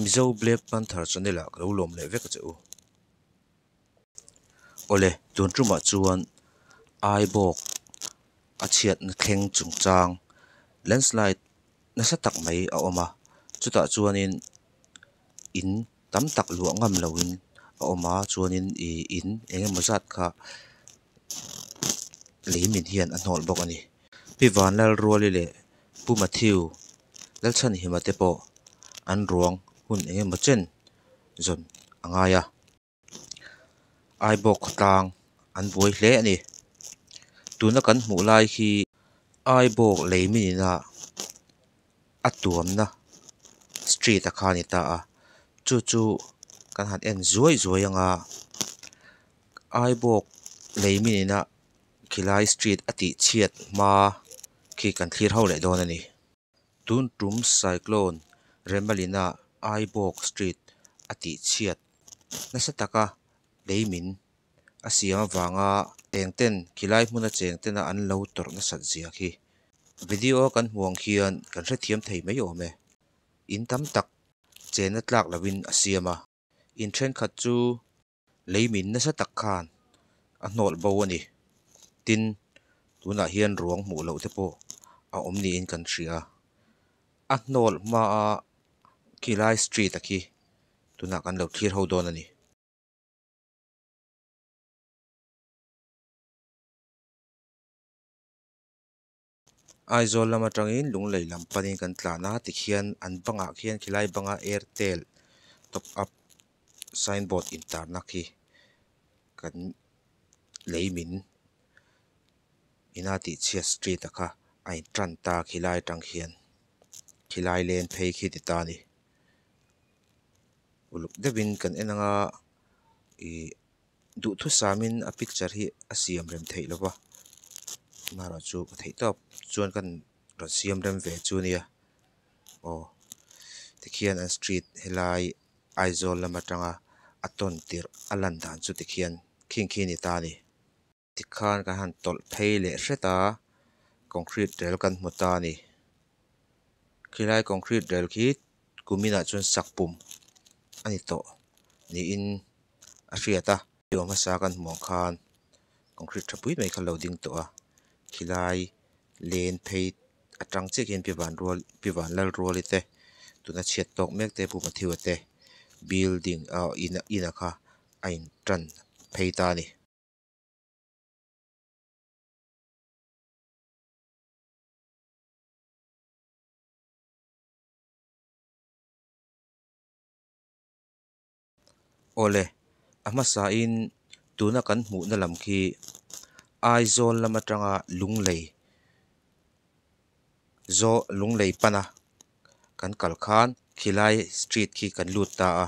Mizo black panther channel ah ka lo lawm leh vek a che u. Aw le tun tumah chuan aibawk a chhiatna thleng chung chang landslide nasa tak mai a awm a chutah chuanin in-- tam tak luah ngam lo in a awm a chuan in ih in eng emaw zat kha lei min hian a hnawlh bawk a ni Pi van Lalruali leh Pu Mathew Lalchhanhima te pawh an ruang hun eng emaw chen zawn a ngai a Aibawk khawtlang an buai hle a ni tuna kan hmuh lai hi Aibawk lei minina. a tuamna street a kha a ni ta a chu chu kan han en zuai zuai anga aibawk lei mi nena khilai street a tih chhiat hma khi kan thlir ho leh dawn a ni tun tum cyclone remalina aibawk street a tih chhiat nasa taka lei min. a siam avanga eng ten khilai hmuna cheng tena an lo tawrh nasat zia khi video a kan hmuh ang khian kan hrethiam thei mai awm e. In tam tak chenna tlak lovin a siam a, in thenkhat chu lei min nasa tak khan a hnawlh bo a ni. Tin, tunah hian ruang hmuh loh te pawh a awm niin kan hria a. A hnawlh hmaa khilai street a khi tunah kan lo thlir ho dawn a ni. Aizawl lam atangin Lunglei lam panin kan tlan a tikhian an bangah khian khilai banga Airtel top up signboard intarna khi kan lei min Inatihchhia street a kha a in tan ta a khilai atang khian khilai len phei khi ti ta a ni. uluk deuhin kan en anga ih duhthusâmin a picture hi a siam rem theih lo va tunahloh chu ka theih tawp chuan ka rawn siam rem ve chu a nia aw tikhian an street helai Aizawl lam aṭanga a tawn tirh a lan dan chu tikhian khing khi a ni ta a ni. tikhan ka han tawlh phei leh hret a concrete rel kan hmu ta a ni khilai concrete rel khi kuminah chuan sak pum a ni tawh niin a hriat a hemi awm hmasa kan hmuh ang khan concrete tha pui mai kha lo ding tawh a khilai len phei atang chiah khian pi van rual pi van lal rual ite tuna chhiat tawk mek te puma thil te building ah ina ina kha a in tan phei ta a ni. Aw le, a hmasain tuna kan hmuhna lam khi Aizawl lam atanga Lunglei zaw Lunglei pana kan kal khan Khilai Street khi kan lut ta a.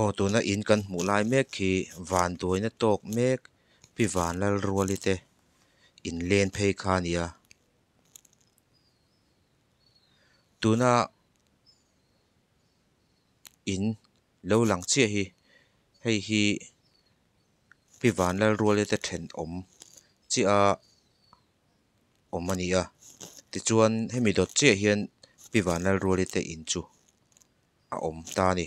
Aw tuna in kan hmuh lai mek khi van duaina tawk mek pi van lal rual ite in len phei kha a ni a tuna in lo lang chiah hi hei hi pi van lal rual ite thenawm chiah a. awm a ni a tichuan hemi dawt chiah hian pi van lalruali te in chu a awm ta a ni.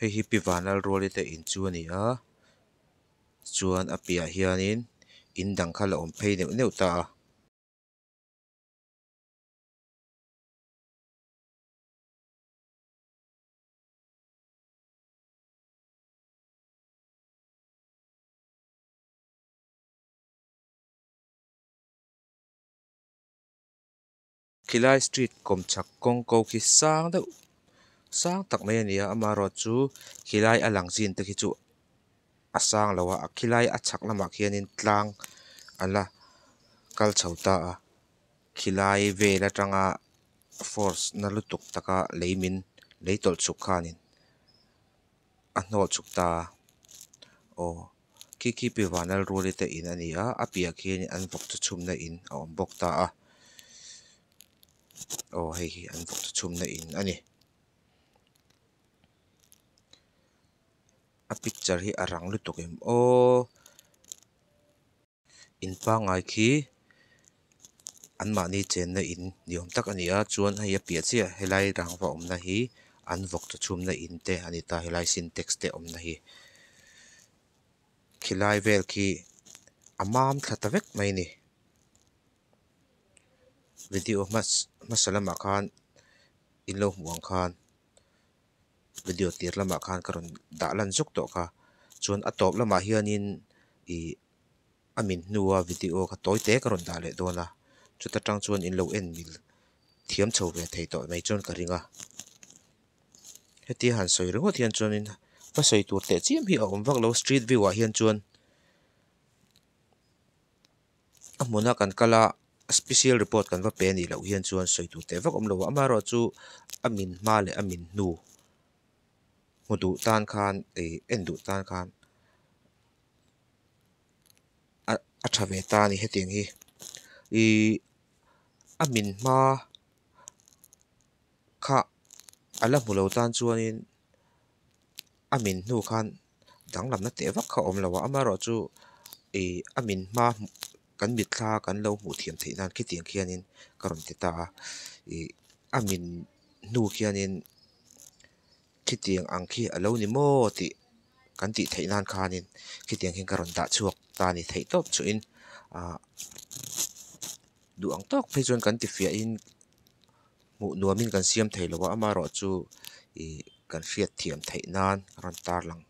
Hei hi pi vân lal rual i te in chu a ni a chuan a piah ah hianin in dang kha la awm phei neuh neuh ta a. Khilai street kawmchhak kawngko khi sang deuh sang tak mai a ni a, amah erawh chu khilai a lang zin te khi chu a sang lo a, khilai a chhak lamah khianin tlang a la kal chho ta a. Khilai vel atanga force na lutuk taka lei min lei tawlh chuk khanin a hnawh chuk ta a, aw Kikkipi vanal ruali te in a ni a, a piah khianin an vawk chu chhumna in a awm bawk ta a, aw hei hi an vawk chu chhumna in a ni. A picture hi a rang lutuk em aw. in pangngai khi an mahni chenna in ni awm tak a ni a chuan hei a piah chiah a helai rangva awmna hi an vawk tha chhumna in te a ni ta helai sintex te awmna hi khilai vel khi a mam thla ta vek mai a ni video hmasa lamah khan in lo hmuh ang khan. video tir lamah khan ka rawn dah lan zuk tawh kha chuan a tawp lamah hianin ih a min hnu a video kha tawi te ka rawn dah leh dawn a chuta tang chuan in lo en mil thiam chho ve thei tawh mai chuan ka ring a hetia han sawi ringawt hian chuanin va sawi tur teh chiam hi a awm vak lo street view ah hian chuan-- a hmuna kan kal a special report kan va pe a nih loh hian chuan sawi tur teh vak awm lo a amaherawhchu chu a min hma leh a min hnu hmu duh tan khan ei en duh tan khan a a tha ve ta a ni hetiang hi ihh a min hma kha a la hmu lo tan chuanin a min hnu khan-- danglam na teh vak kha a awm lo a amaherawhchu chu ihh a min hma kan mitthla kan lo hmuh thiam theih nan khitiang khianin ka rawn ti ta a ih a min hnu khianin khitiang ang khi a lo ni maw tih kan tih theih nan khanin khitiang khin ka rawn dah chhuak ta a ni theih tawp chuhin ahh duh ang tawk phei chuan kan tifiah in-- Hmuh nuamin kan siam thei lo a, amarawh chu ih kan hriat thiam theih nan a rawn tarlang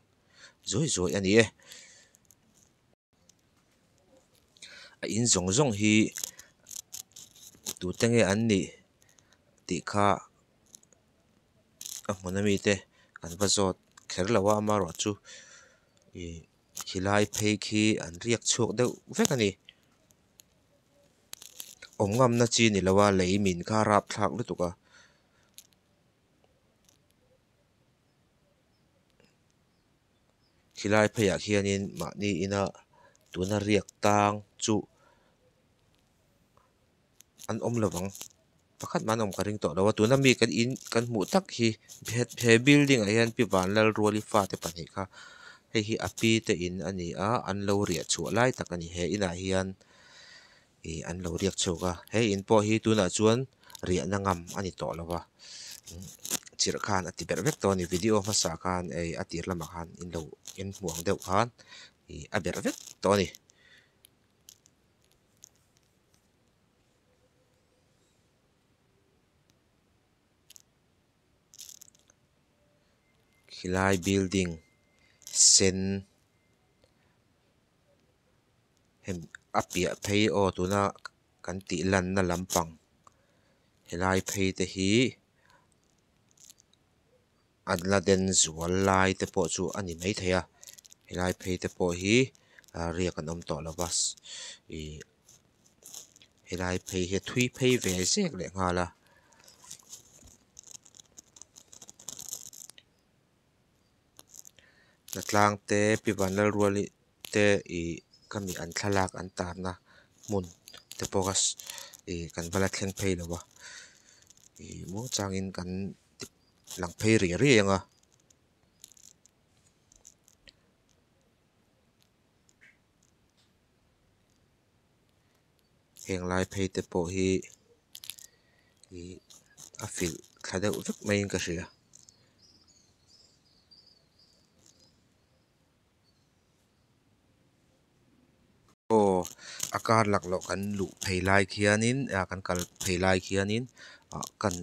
zawih zawih a ni e. A in zawng zawng hi tute nge an nih tih kha a hmun a mi te kan va zawt kher lo a, amarawh chu ih khilai phei khi an riak chhuak deuh vek a ni. awm ngamna chi ni lo a lei min kha a rap thlak lutuk a khilai pheiah khian in mahni ina tuna riak tang chu an awm lo vang. Pakhat mahna awm ka ring tawh lo a tuna mi kan in kan hmuh tak hi he he building ah hian pi van lal ruali fate pahnih kha hei hi api te in a ni a an lo riah chhuah lai tak a ni he inah hian ih an lo riak chhuak a he in pawh hi tunah chuan riahna ngam a ni tawh lo va chirh khan a ti ber vek tawh a ni video hmasa khan ei a tir lamah khan in lo in hmu ang deuh khan ih a ber vek tawh a ni. helai building sen hemi a piah phei aw tuna kan tih lan na lampang helai phei te hi. an la den zual lai te pawh chu a ni mai thei a helai phei te pawh hi ah riak an awm tawh lova ihh helai phei hi a thui phei ve zek leh nghal a. Hna tlangte pi ban lalrual te ihh ka mi an thlalak an tarna hmun te pawh ihh kan va la thleng phei lova ihh maw changin kan ti-- lang phei ri ri ang a heng lai phei te pawh hi ih a felh thla deuh vek maiin ka hria. Aw a kar lak loh kan luh phei lai khianin ah kan kal phei lai khianin ah kan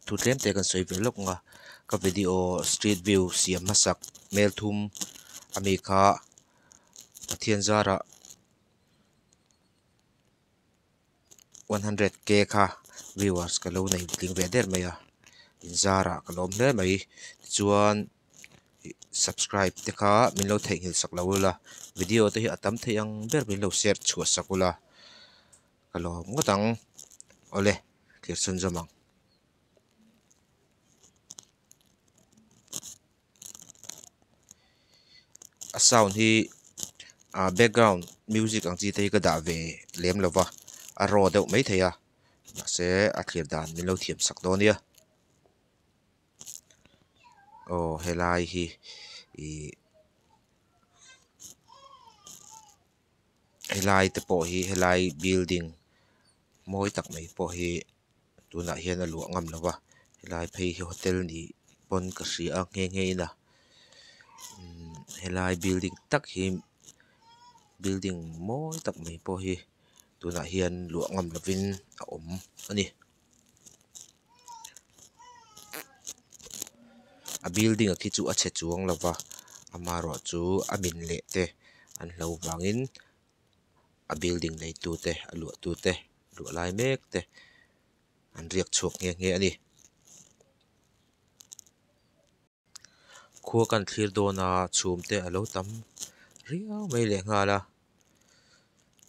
thu tlem te kan sawi ve lawk ang a ka video street view siam hmasak hmel thum a mi kha Pathian zara. one hundred k kha viewers ka lo nei tling ve der mai a in zar ah ka lawm hle mai tichuan ih subscribe te kha min lo theihnghilh sak lo ila video te hi a tam thei ang ber min lo share chhuah sak ula ka lawm ngawt ang awle thlir chhunzawm ang. a sound hi ah background music ang chi te hi ka dah ve lem lo va a raw deuh mai thei a mahse a thlir dan min lo thiam sak dawn nia aw helai hi ihh helai te pawh hi helai building mawi tak mai pawh hi-- tunah hian a luah ngam lo va helai phei hi hotel ni pawn ka hria a nghe nghe in a umm helai building tak hi building mawi tak mai pawh hi tunah hian luah ngam lovin a awm a ni a building a khi chu a chhe chuang lo va amaherawhchu a min leh te an hlo vangin-- a building nei tu te a luah tu te luah lai mek te an riak chhuak nghe nghe a ni khua kan thlir dawn a chhum te a lo tam riau mai leh nghal a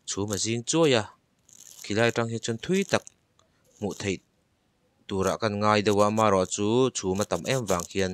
chhum a zing chuai a khi lai atang hi chuan thui tak hmuh theih tur ah ka rawn ngai deuh a amaherawhchu chhum a tam em vang khian.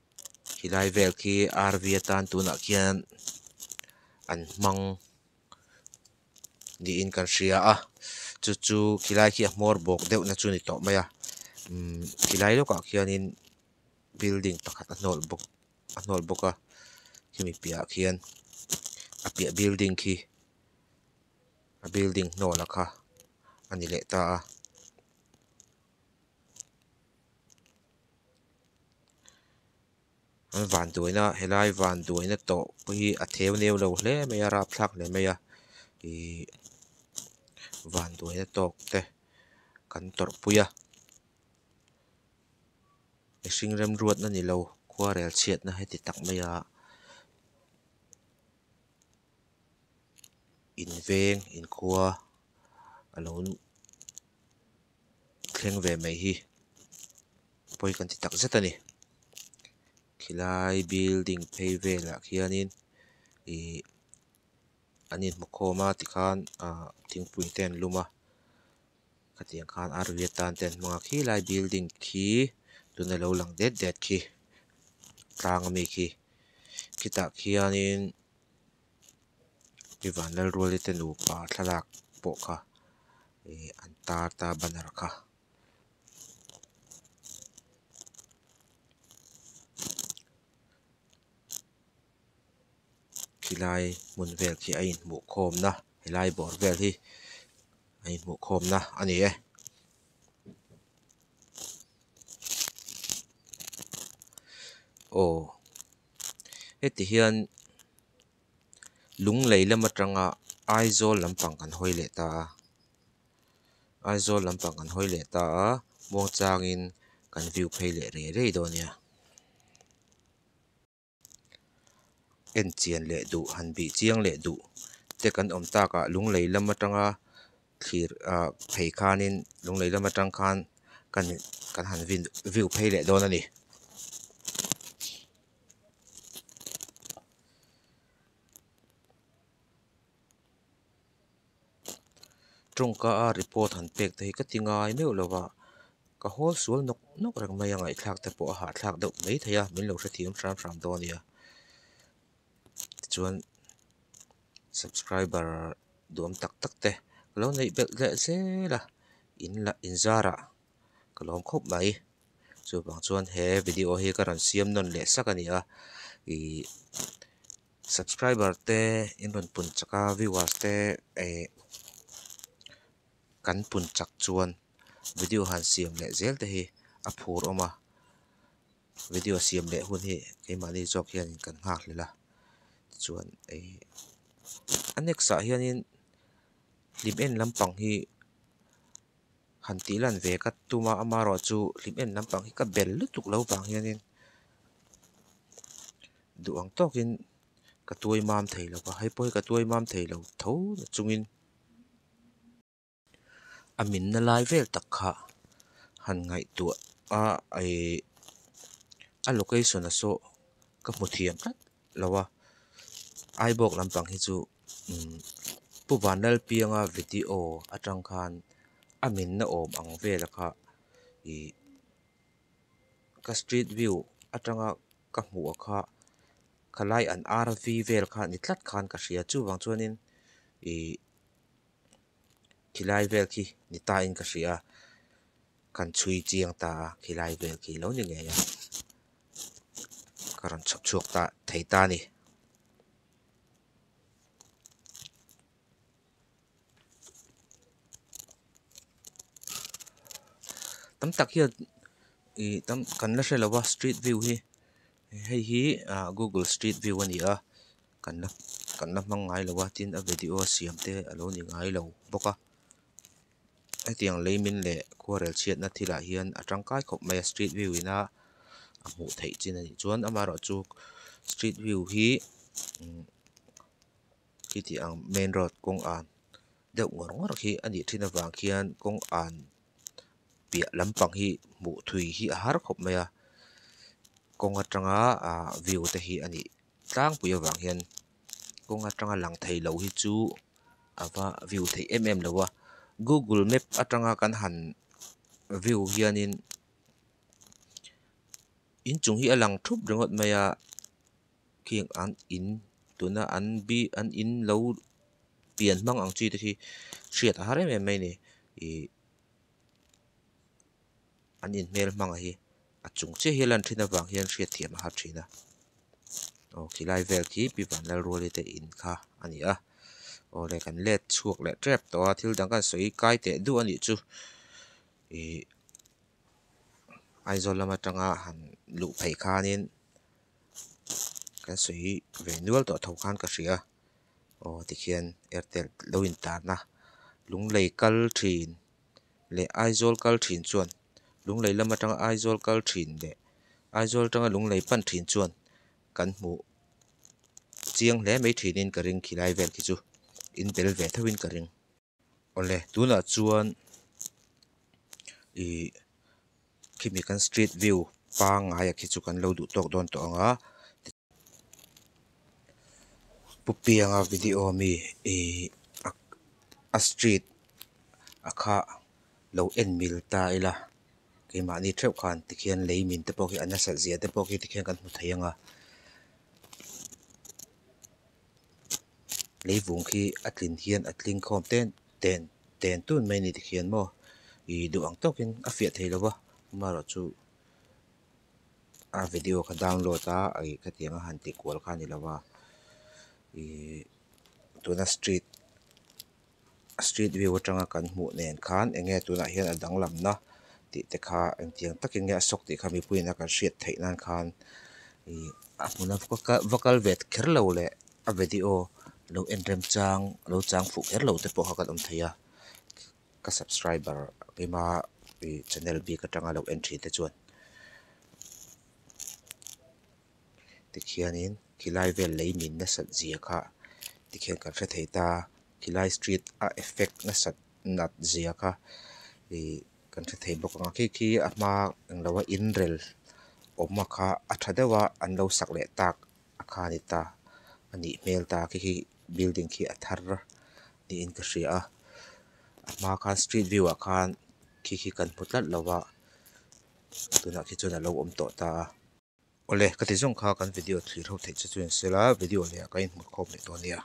Helai vel khi RV atan tunah khian an hmang niin kan hria a chu chu khilai khi a hmawr bawk deuh na chu ni tawh mai a umm khilai lawkah khianin building pakhat a hnawlh bawk a hnawlh bawk a hemi piahah khian a piah building khi a building hnawlak kha a ni leh ta a. An van duaina helai van duaina tawh pawh hi a theu neu lo hle mai a rap thlak hle mai a ihh van duaina tawk te kan tawrh pui a mihring remruatna ni lo khuarel chhiatna hi ti tak mai a inveng inkhua a lo-- thleng ve mai hi pawi kan ti tak zet a ni khilai building phei velah khianin ihh an inhmukhawm a tikhan ahh thingpui te an lum a khatiang khan arvi atan te an hmang a khilai building khi tun a lo lang det det khi tlang ami khi khitah khianin-- mi van lal rual ite nupa thlalak pawh kha ih an tar ta a banner kha. Khilai hmun vel khi a inhmuh khawm na helai bawr vel hi a inhmuh khawm na a ni e. heti hian lung lei lam atanga Aizawl lampang kan hawi leh ta a Aizawl lampang kan hawi leh ta a Muangchangin kan view phei leh rei rei dawn a nia enchian leh duh han bih chiang leh duh te kan awm takah lung lei lam atanga. thlir ah phei khanin lunglei lam atang khan kan kan han vin view phei leh dawn a ni. Tawngka a report han pek te hi ka ti ngai meuh lo va ka hawl sual nawk nawk reng mai a ngaihtlak te pawh a hahthlak deuh mai thei a min lo hrethiam hram hram dawn a nia. tichuan subscriber duam tak tak te ka lo neih belh leh zel a in la in zar ah ka lawm khawp mai chuvang chuan he video hi ka rawn siam nawn leh sak a ni a ihh subscriber te in rawn pun chak a viewers te ehh kan pun chak chuan video han siam leh zel te hi a phur awm a. Video siam leh hun hi keimahni zawk hian in kan nghak hlel a tichuan ih a next ah hian in hlim en lampang hi han tih lan ve ka tum a ama erawh chu hlim en lampang hi ka bel lutuk lo vang hian in duh ang tawk in ka tuai mam thei lo va hei pawh hi ka tuai mam thei lo tho chung in. a minna lai vel tak kha han ngaihtuah a ihh a location a saw ka hmu thiam tlat lo a aizawl lampang hi chu imm pu van lalpianga video atang khan a minna awm ang vel a kha ihh ka street view atanga ka hmuh a kha khalai an arvi vel kha ni tlat khan ka hria chuvang chuanin ihh-- khilai vel khi ni tain ka hria a, kan chhui chiang ta a khilai vel khi lo ni ngei a, ka rawn chhawp chhuak ta thei ta a ni. Tam tak hian ihh kan la hre lo a street view hi. Hei hi ahh google street view a ni a kan la kan la hmang ngai lo a tin a video a siam te a lo ni ngai lo bawk a hetiang leimin leh khuarel chhiatna thil ah hian a tangkai khawp mai a street view ina a hmuh theih chin a nih chuan amah erawh chu street view hi imm khitiang main road kawng an deuh ngawr ngawr khi a nih thin avang khian kawng an-- piah lampang hi hmuh thui hi a har khawp mai a kawng atanga ah view te hi a nih tlangpui avang hian kawng atanga lang thei lo hi chu a va view theih em em lo a google map atanga kan han view hianin inchung hi a lang thup ringawt mai a. heng an in tuna an bi an in lo pian hmang ang chi te hi hriat a har em em mai a ni ih an in hmel hmang a hi a chung chiah hi a lan thin avang hian hriat thiam a har thin a aw khi lai vel khi pi van lal rual hi te in kha a ni a aw leh kan let chhuak leh tep tawh a thil dang kan sawi kai teh duh a nih chu ih Aizawl lam atanga han luh phei khanin. kan sawi ve nual tawh tho khan ka hria aw tikhian airtel lo in tarna lunglei kal thin leh aizawl kal thin chuan lunglei lam atanga aizawl kal thin leh aizawl atanga lunglei pan thin chuan kan hmuh chiang hle mai thin in ka ring khi lai vel khi chu in bel ve theuhin ka ring. Awle tunah chuan ih khimi kan street view pangngaia khi chu kan lo duh tawk dawn tawh ang a pu pianga video a mi ih a street a kha lo en mil ta ila keimahni theuh khan tikhian lei min te pawh hi a nasalh ziah te pawh khi tikhian kan hmu thei ang a. leivung khi a tlin hian a tling khawm ten ten ten tun mai a ni tikhian maw ih duh ang tawkin a fiah theih lova amarawh chu a video kha download a ih khatiang a han tih kual kha a ni lova ihh tuna street -- street view atanga kan hmuh nen khan eng nge tunah hian a danglam na tih te kha engtiang takin nge a sawk tih kha mipuiin a kan hriat theih nan khan ih a hmun a va kal ve kher lo leh a video lo en remchang lo chang fuh kher lo te pawh kha kan awm thei a ka subscriber ema ih channel bik atanga lo en thin te chuan. tikhianin khilai vel lei min nasat zia kha tikhian kan hre thei ta khilai street a effect nasat nat zia kha ihh kan hre thei bawk ang a khi khi a hma englo a inrel awma kha a tha deuh a an lo sak leh tak a kha a ni ta a nih hmel ta khi khi building khi a thar a tiin ka hria a a hma kha street view ah khan khi khi kan hmu tlat lo a tunah khi chuan a lo awm tawh ta a. Awle ka ti zawng kha kan video thlih tho theih che chuan sela video leh ah ka inhmut khawp leh tawh ania.